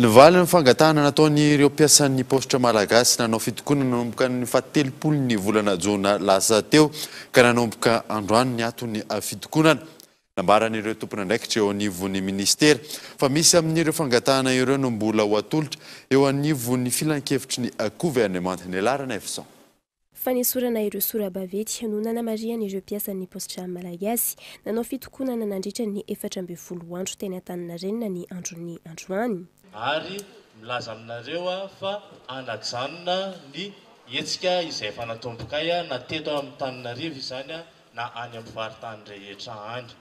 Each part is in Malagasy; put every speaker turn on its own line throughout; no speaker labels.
Ny valin'ny fangatahana nataon'ireo mpiasan'ny paositra malagasy nanao fitokonana nanomboka ny fahatelopolon'ny volana jona lasa teo ka nanomboka androany ny aton'ny fitokonana. Nambaran'ireo tompon'andraikitra eo anivon'ny minisitera fa misy amin'ireo fangatahana ireo no mbola ho atolotra eo anivon'ny filankevitry ny governemanta. Ny laharan'Evison. Fanesorana
ireo sora-baventy no nanamarihany ireo mpiasan'ny Postdram Malagasy. Nanao fitokonana nandritra ny efatra ambin'ny folo andro teny Antaninarenina ny andron'ny androany. ary
milaza aminareo aho fa hanajanona ny hetsika izay efa natombokay na teto amin'Antananarivo izany na any amin'ny faritany rehetra any.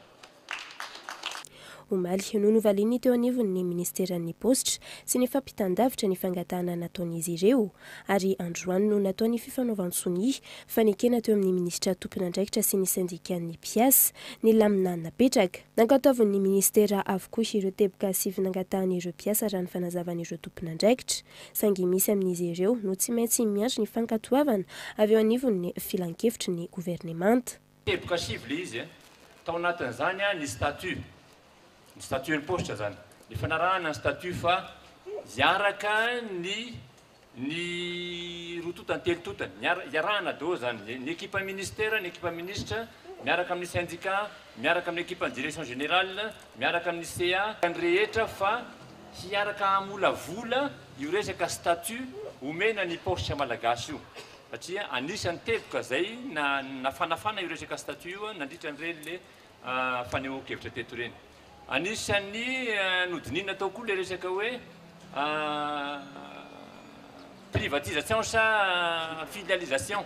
Omaly no novalian'ny teo anivon'ny minisiteran'ny paositra sy ny fampitan-davitra ny fangatahana nataon'izy ireo ary androany no natao ny fifanaovan-tsonia fa nekena teo amin'ny minisitra tompon'andraikitra sy ny sendikan'ny mpiasa ny lamina napetraka. Nankatoavin'ny minisitera avokoa ireo teboka sivy nangatahan'ireo mpiasa raha ny fanazavan'ireo tompon'andraikitra saingy misy amin'izy ireo no tsy maintsy miandry ny fankatoavana avy eo anivon'ny filankevitry ny governemanta. Teboka sivy ilay
izy. Tao anatin'izany ny statut, ny statut an'ny paositra izany. Ny fanarahana ny statut fa hiaraka ny ny roa totany, telo totany. Hiara- Hiarahana daholo izany. Ny ekipa ministera, ny ekipa minisitra, miaraka amin'ny sendika, miaraka amin'ny ekipan'ny direction générale, miaraka amin'ny CA, ny rehetra fa hiaraka hamolavola io resaka statut omena ny paositra malagasy io. satria anisan'ny teboka izay nafanafana io resaka statut io nandritra an'ireny le fanehoan-kevitra teto ireny. Anisan'ny nodinina tao koa le resaka hoe privatisation sa filialisation.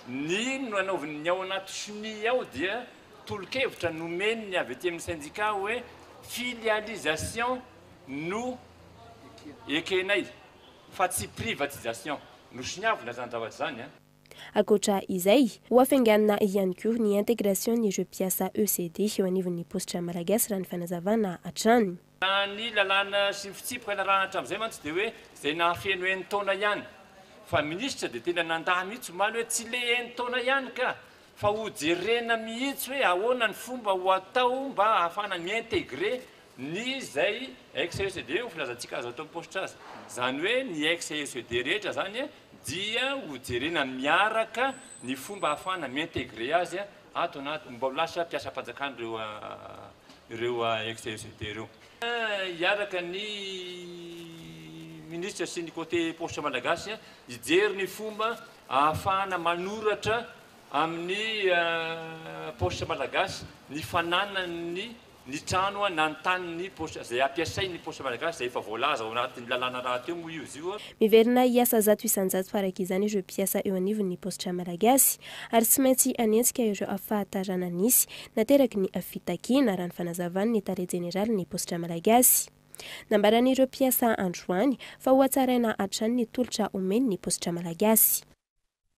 Ny nanaoviny ny ao anaty CNI ao dia tolo-kevitra nomen'ny avy aty amin'ny syndicat hoe filialisation no ekenay. fa tsy privatisation no soniavina zany zavatra zany a. Ankoatra
izay, ho afainganina ihany koa ny intégration n'ireo mpiasa ECD eo anivon'ny paositra Malagasy raha ny fanazavana hatrany. Raha ny lalàna
sy ny fitsipiky narahana hatramin'izay mantsy dia hoe izay nahafeno enin-taona ihany. Fa minisitra dia tena nandà mihitsy omaly hoe tsy le enin-taona ihany ka fa ho jerena mihitsy hoe ahoana ny fomba ho atao mba ahafahana mi-intégrer Ny izay ex-CECD ho filazantsika azo atao am-paositra aza. Izany hoe ny ex-CECD rehetra izany dia ho jerena miaraka ny fomba ahafahana mi-intégrer azy ato anaty, mba ho lasa mpiasam-panjakana ireo ireo ex-CECD ireo. Hiaraka ny Minisitra sy ny Côté Paositra Malagasy hijery ny fomba ahafahana manoratra amin'ny Paositra Malagasy ny fananany ny ny trano na ny tany ny poste izay ampiasain' ny poste malagasy izay efa voalaza ao anatin' ny lalàna rahateo moa io izy io. Miverina hiasa zato
isan-jato farak' izany ireo mpiasa eo anivon' ny paositra malagasy ary tsy maintsy hanenjika ireo afahatarana nisy nateraky ny fitakiana, raha ny fanazavan' ny tale jeneralin' ny paositra malagasy. Nambaran' ireo mpiasa androany fa hohatsaraina hatrany ny tolotra omen' ny paositra malagasy.